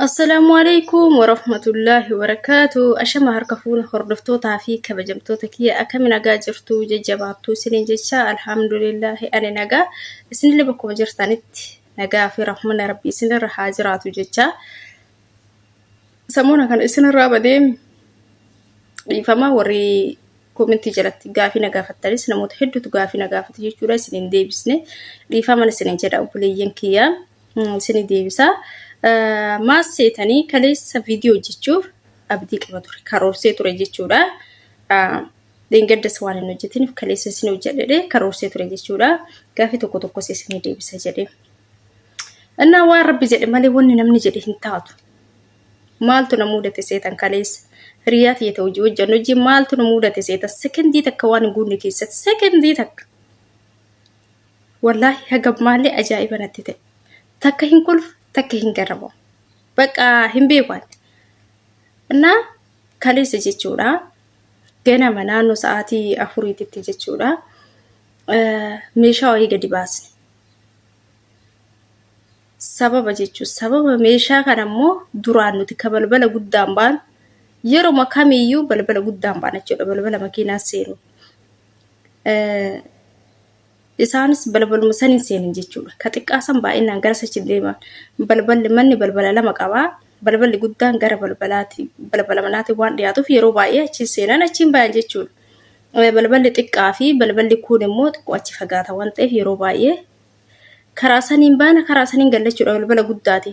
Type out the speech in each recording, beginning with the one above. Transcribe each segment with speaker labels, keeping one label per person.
Speaker 1: Assalaamu alaikum warahmatullaahi wabarakaatu. Ashama harka fuuna hordoftootaa fi kabajamtoota kiyya akkami nagaa jirtu jajjabaattuu isiniin jecha alhamdulillaahi ani nagaa isinillee bakkuma jirtanitti nagaa fi rahmana rabbi isinirra haa jiraatu jecha. Samuuna kana isinirraa badee dhiifama warri komentii jalatti gaafii na gaafattanis namoota hedduutu gaafii na gaafate jechuudha isin hin deebisne dhiifaman isin hin jedha obboleeyyan kiyya isin hin deebisa maas seetanii kaleessa viidiyoo hojjechuuf abdii qaba ture karoorsee ture jechuudha dheengaddas waan hin hojjetiniif kaleessa isin hojjedhe karoorsee ture jechuudha gaafii tokko tokkos isin hin deebisa jedhee እና waan rabbi jedhe malee wanni namni jedhe hin taatu maaltu na muudate seetan kaleessa hiriyaa tiyya ta'u hojii hojjannu hojii maaltu na muudate seetan sekendii takka waan hin guunne keessatti sekendii takka wallaahi haga maallee ajaa'iba natti ta'e takka hin kolfu takka hin garramu bakka hin beeku ani innaa kaleessa jechuudha ganama naannoo sa'aatii afuriititti jechuudha meeshaa wayii gadi baasne Sababa jechuun sababa meeshaa kana immoo duraan nuti ka balbala guddaan baanu yeroma kamiiyyuu balbala guddaan baana jechuudha balbala makiinaan seenu. Isaanis balbaluma saniin seenan jechuudha. Ka xiqqaa san baay'inaan gara sachi deema. Balballi manni balbala lama qaba. Balballi guddaan gara balbalaati balbala manaatiin waan dhiyaatuuf yeroo baay'ee achiin seenan achiin bayan jechuudha. Balballi xiqqaa fi balballi kuun immoo xiqqoo achi fagaata waan ta'eef yeroo baay'ee karaa saniin baana karaa saniin galla jechuudha balbala guddaati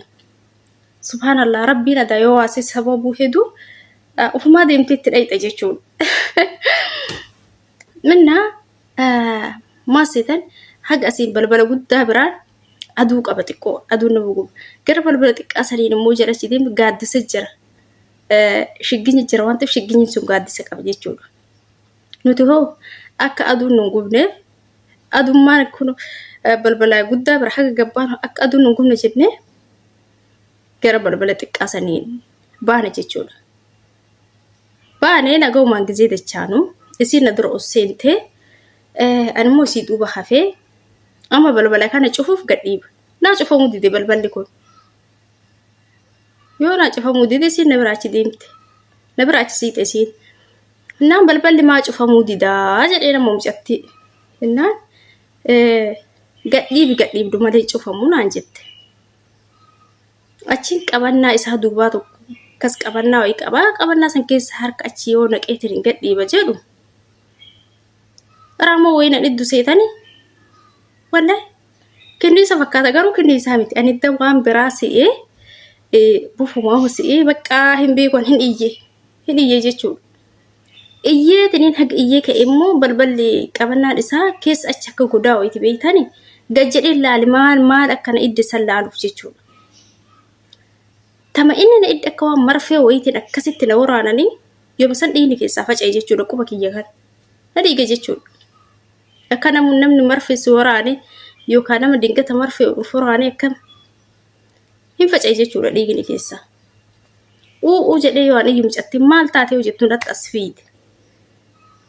Speaker 1: subhaanallah rabbiin adaa yoo waasee sababuu heduu ufumaa deemtee itti dhayxa jechuudha minnaa maas seetan haga asiin balbala guddaa biraan aduu qaba xiqqoo aduun nama guba gara balbala xiqqaa saniin immoo jala si deemu gaaddisa jira shigginyi jira waan ta'eef shigginyi sun gaaddisa qaba jechuudha. Nuti hoo akka aduun nu hin gubneef adummaan kun balbala guddaa bira haga gabbaanu akka aduun nu hin gubne jennee gara balbala xiqqaa saniin baane jechuudha. Baanee nagaumaan gizee dachaanu isiin na dura ol seentee animmoo isii duuba hafee amma balbala kana cufuuf gadhiiba. Naa cufamuu dide balballi kun. Yoo naa cufamuu dide isiin na bira achi deemte. Na bira achi siite isiin. Innaan balballi maa cufamuu didaa jedhee nama mucatti. Innaan gadhiibi gadhiibdu malee cufamuu naan jette. Achiin qabannaa isaa duubaa tokko akkas qabannaa wayii qabaa qabannaa san keessa harka achi yoo naqeetiin hin gadhiiba jedhu. Raamoo wayii nan iddu seetani. Wallahi kinniisa fakkaata garuu kinniisaa miti. Ani idda waan biraa se'ee bufumaa se'ee baqqaa hin beeku hin iyye. hin iyye jechuudha. Iyyee tiniin haga iyyee ka'e immoo balballi qabannaan isaa keessa achi akka godaa'u itti beektani gad jedhee laali maal maal akka na idde san laaluuf jechuudha. Tama inni na idde akka waan marfee wayiitiin akkasitti na waraananii yooma san dhiigni keessaa faca'e jechuudha quba kiyya kan. Na dhiige jechuudha. Akka namu- namni marfee si waraane yookaan nama dingata marfee of waraane akkam hin faca'e jechuudha dhiigni keessaa. U'uu jedhee yoo ani mucatti maal taatee yoo jettu natti as fiide.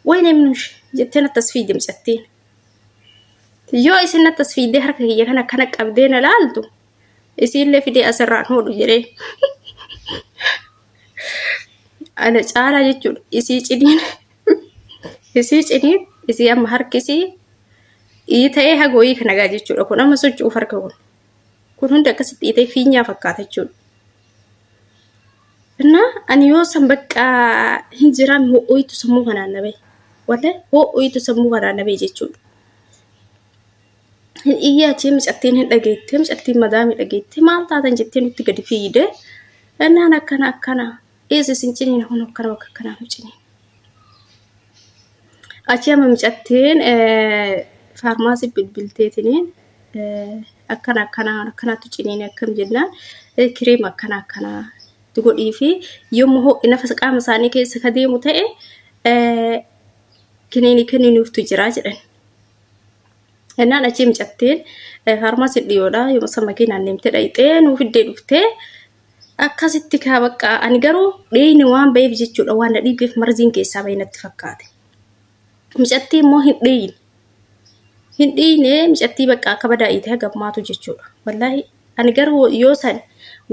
Speaker 1: Wayne nush jettee natti as fiide mucattiin. Yoo isin natti as fiidee harka kiyya kana akkana qabdee na laaltu isiillee fidee asirraan hodhu jedhee. Ana caalaa jechuudha isii ciniin isii ciniin isii amma harkisii ii ta'ee hagooyii kanagaa jechuudha kun amma socho'uuf harka kun. kun hundi akkasitti dhiitee fiinyaa fakkaata jechuudha. Innaa ani yoo san bakka hin jiraan ho'oitu sammuu kanaan na bahe. Wallee ho'oitu sammuu kanaan na bahe jechuudha. Hin iyyaa jee mucattiin hin dhageettee mucattiin madaamii dhageettee maal taatan jettee nutti gadi fiigdee innaan akkana akkana Dhiisi isin ciniina kun akkana bakka akkanaa nu ciniina. Achi amma micattiin faarmaasii bilbilteetiniin akkana akkanaa akkanaatu ciniina akkam jennaan kireem akkana akkanaa itti godhii fi yommuu ho'i nafasa qaama isaanii keessa ka deemu ta'e kiniini kenninuuftu jira jedhan. Jennaan achi micattiin faarmaasii dhiyoodha yommuu san makiinaan deemtee dhayxee nuu fiddee dhuftee akkasitti kaa bakka ani garuu dheeyni waan ba'eef jechuudha waan na dhiibeef marziin keessaa ba'e natti fakkaate micattii immoo hin dheeyne hin dhiine micattii bakka akka badaa iitee gammaatu jechuudha wallaahi ani garuu yoo san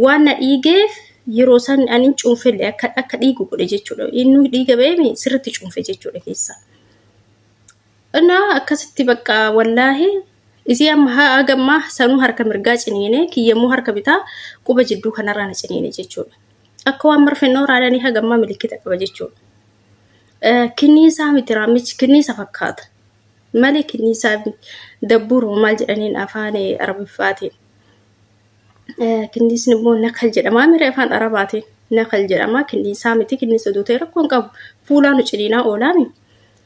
Speaker 1: waan na dhiigeef yeroo san ani cuunfelle akka akka dhiigu godhe jechuudha inni dhiiga ba'eemi sirritti cuunfe jechuudha keessaa. Innaa akkasitti bakka wallaahe isii amma ha'a gammaa sanuu harka mirgaa ciniine kiyyammoo harka bitaa quba jidduu kanarraa na ciniine jechuudha. Akka waan marfennoo raadanii hagammaa milikkita qaba jechuudha. Kinniisaa miti raammichi kinniisa fakkaata. Malee kinniisaa dabbuuruma maal jedhaniin afaan arabiffaatiin. Kinniisni immoo nakal jedhama mire afaan arabaatiin nakal jedhama kinniisaa miti kinniisa duutee rakkoon qabu fuulaa nu ciniinaa oolaami.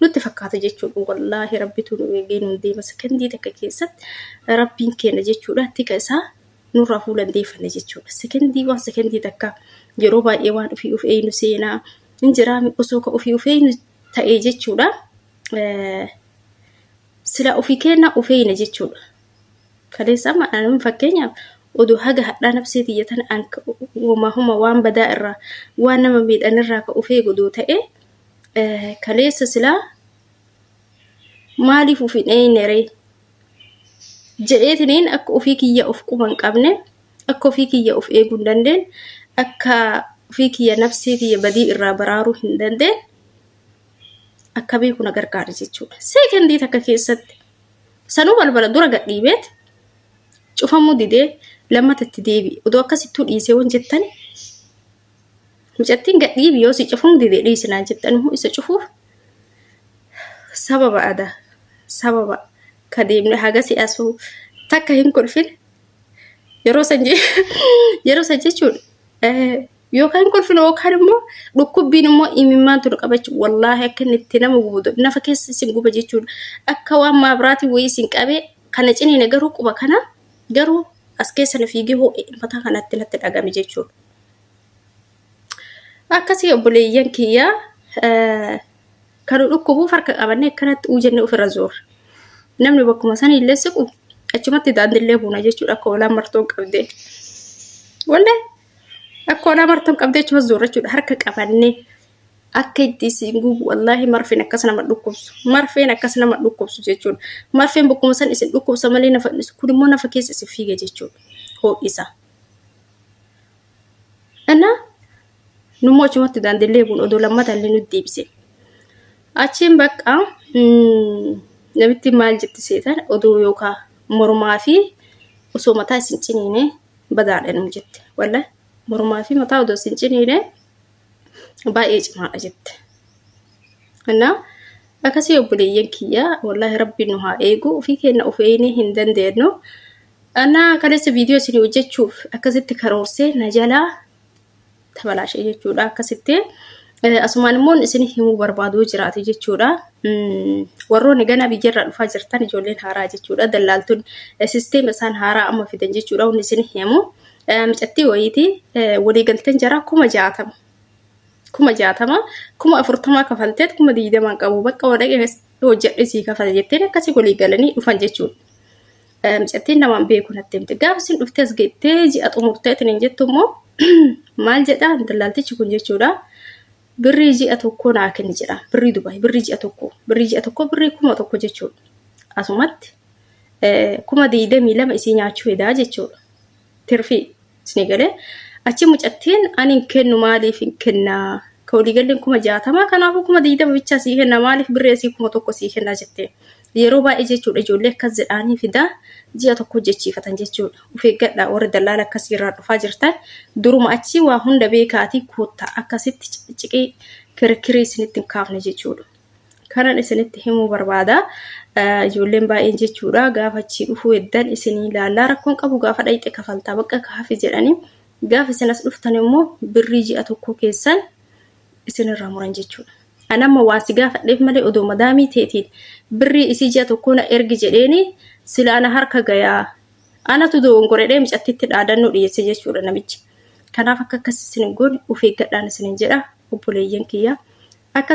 Speaker 1: nutti fakkaata jechuudha wallaahi rabbitu nu eegee nuun deema sekondii takka keessatti rabbiin keenya jechuudha tika isaa nurraa fuula hin deeffanne jechuudha sekondii waan sekondii takka yeroo baay'ee waan ofii of eeynu seenaa hin jiraa osoo ka ofii of eeynu ta'e jechuudha Eh, sila ofii keenya of eeyna jechuudha kaleessa amma anam fakkeenyaaf oduu haga hadhaa nabsee tiyya tana an ka- homaa homa waan badaa irraa waan nama miidhan irraa ka of eegu odoo ta'e kaleessa silaa maaliif uf hin eeyneree jedheetiniin akka ofii kiyya of quba hin qabne akka ofii kiyya of eeguu hin dandeen akka ofii kiyya nafsee kiyya badii irraa baraaruu hin dandeen akkamii kuna gargaara jechuudha. Seekendii takka keessatti sanuu balbala dura gadhiibeet cufamuu didee lammata itti deebi'e odoo akkasittuu dhiisee wan jettan Mucattiin gadhiibi yoo si cufuun dide dhiisi naan jettan immoo isa cufuuf sababa ada sababa ka deemne haga si asuu takka hin kolfin yeroo san je- yeroo san jechuun eh, yookaan hin kolfin yookaan immoo dhukkubbiin immoo imimmaan tun qabachu wallaahi akka inni itti nama gubu nafa keessa isin guba jechuudha akka waan maabiraatiin wayii isin qabee kana ciniine garuu quba kana garuu as keessa na fiigee hoo'e mataa kanatti natti dhagame jechuudha. akkasii obboleeyyan kiyya kan dhukkubuuf harka qabannee akkanatti uu jennee ofirra zoorra namni bakkuma san illee siqu achumatti daandillee buuna jechuudha akka olaa martoon qabdee wallee akka olaa martoon qabdee achuma zoorra jechuudha harka qabannee akka itti isin gubu wallaahi marfeen akkas nama dhukkubsu marfeen akkas nama dhukkubsu jechuudha marfeen bakkuma san isin dhukkubsa malee nafa kun immoo nafa keessa isin fiiga jechuudha ho'isa. Innaa nummoo achumatti daandillee kun odoo lammata illee nutti deebise. Achiin bakka namitti maal jetti seetan odoo yookaan mormaa fi osoo mataa isin ciniine badaadha nu jette. Wallah mormaa fi mataa odoo isin ciniine baay'ee cimaadha jette. Innaa akkasii obboleeyyan kiyyaa wallaahi rabbiin nu haa eegu ofii keenya of eegnee hin dandeenyu. Dhalaa kaleessa viidiyoo isin hojjechuuf akkasitti karoorsee na jalaa tabalaashe jechuudha. Akkasitti asumaan immoo isin himuu barbaaduu jiraate jechuudha. Warroonni ganaa biyyarraa dhufaa jirtan ijoolleen haaraa jechuudha. Dallaaltonni sisteema isaan haaraa amma fidan jechuudha. Wanni isin himu micattii wayiitii waliigalteen jaraa kuma jaatama. Kuma jaatama kuma afurtamaa kafalteet kuma digdamaan qabu bakka wadhaqee hojjedhe sii kafala jettee akkasii waliigalanii dhufan jechuudha. Mucattiin namaan beeku natti himte. Gaafa isin dhuftee as geettee ji'a xumurtee isin hin jettu immoo maal jedha dallaaltichi kun jechuudha. Birrii ji'a tokkoo naa kenni jedha. Birrii Dubaay birrii ji'a tokkoo birrii ji'a tokkoo birrii kuma tokko jechuudha. Asumatti kuma digdamii lama isii nyaachuu hedaa jechuudha. tirfii isinii galee achi mucattiin ani hin kennu maaliif hin kennaa ka waliigalleen kuma jaatamaa kanaafuu kuma digdama bichaa sii kenna maaliif birree sii kuma tokko sii kennaa jette yeroo baay'ee jechuudha ijoollee akkas jedhaanii fidaa ji'a tokko hojjechiifatan jechuudha of eeggadha warri dallaala akkasii irraa dhufaa jirtan duruma achi waa hunda beekaatii koottaa akkasitti ciqii kirkirii isinitti hin kaafne jechuudha. kanan isinitti himuu barbaada ijoolleen baay'een jechuudha gaafa achii dhufuu eddan isinii ilaallaa rakkoon qabu gaafa dhayxe kafaltaa bakka kaafi jedhanii gaafa isin as dhuftan immoo birrii ji'a tokkoo keessan isinirraa muran jechuudha. Anamma waan si gaafadheef malee odoo madaamii teetiin birrii isii ji'a tokkoo na ergi jedheeni sila ana harka gayaa anatu doongoredhee micattitti dhaadannoo dhiyeesse jechuudha namichi. Kanaaf akka akkas isin hin goone of eeggadhaan isinin jedha. obboleeyyan kiyya akka